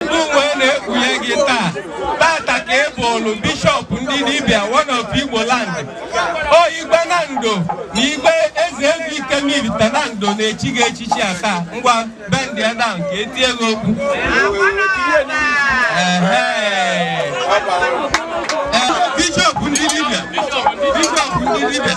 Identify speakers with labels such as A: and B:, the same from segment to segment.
A: M wee na-ekpunye gị taa tata ka ị bụrụ bishọp ndị dibịa one of Igbo land o igwe Nando na igwe eze ego Ikem Ivite Nando na-echi gị echichi a taa ngwa bendịa down ka etie gị okpu Ehe. Ee, bishọp ndị dibịa bishọp ndị dibịa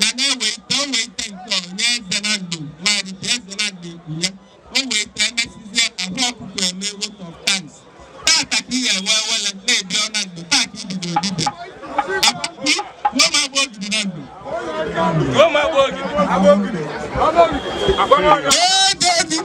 A: ga na-ewete o wete nke ọ nye eze Nando maịk eze Nando ekwue o wete emesizie Akwa Ọkụkọ eme vote of thanks tata ka ihe ewe ewele na-ebi ọ Nando taa ka ibido dibịa akwụkwọ ruo ma agba ogidi Nando Roma Bogi. Agbogi. Agbogi. Ee, David!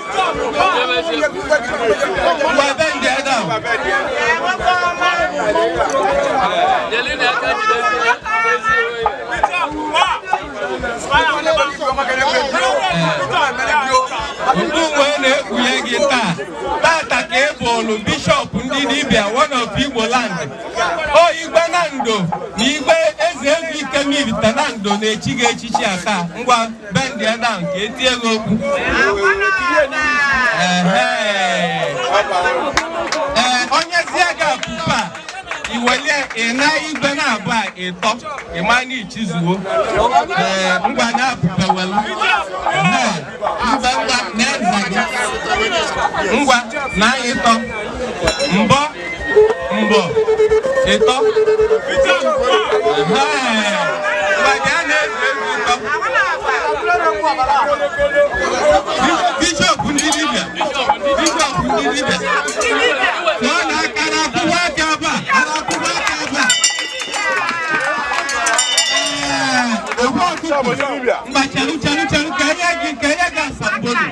A: M wee na-ekpunye gị taa tata ka ị bụrụ bishọp ndị dibịa one of Igbo land o igwe Nando na igwe eze eze Ikem Ivite Nando na-echi gị echichi a taa ngwa bendịa down ka etie gị okpu ee o nyezie gị akupe iwelie ịna igwe naabụa ịtọ ịma na ichizuo ee ngwa na akupe welu ngwa ngwa na eze gị ngwa na ịtọ mbọ mbọ ịtọ bishọp ndị dibịa bishọp ndị dibịa nọ na aka na akwụkwọ aka ebe a na akwụkwọ aka ebe a Ee, Akwa Ọkụkọ mba chelu chelu chelu ka enye gị ka enye gị asambodo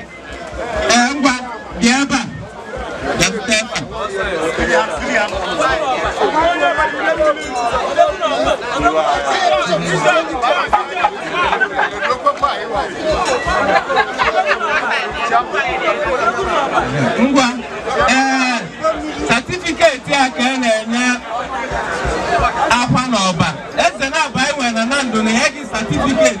A: ngwa ee satifiketi a ka a na-enye Akwa na Ọba eze naabụa enwe na Nando na-enye gị satifiketi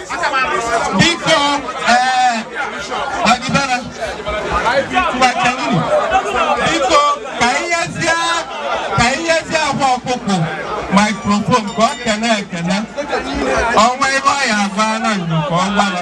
A: biko ee ọdịbara mgbakeluru biko ka inyezie ka inyezie Akwa Ọkụkọ maikrofon ka ọ kene ekene o nwee ife ọ ya agwa Nando ka ọ gwara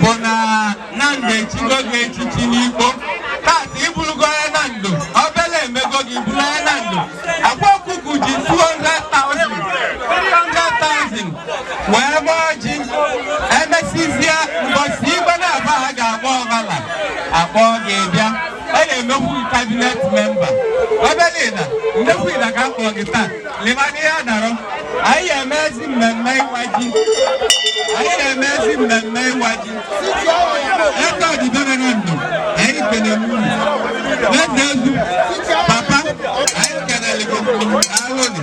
A: bụ na Nando echigo gị echichi n'ikpo tata ị bụrụgo onye Nando obele emego gị bụrụ onye Nando akwa ọkụkụ ji 200,000 300,000 wee gba ọjị emesizie mbọsi igwe na-aba ha ga-agba ọfala akpọọ gị bịa a na-emekwu gị cabinet member ebe niile ndekwu ila ka m kpọrọ gị taa leba n'ihe a dara anyị ga-eme ezi mmemme ịwa ji anyị na-eme ezi mmemme ịwa ji ego ọdịbere na ndụ anyị kene n'ụlọ n'eze ezu papa anyị kenere gị alụnị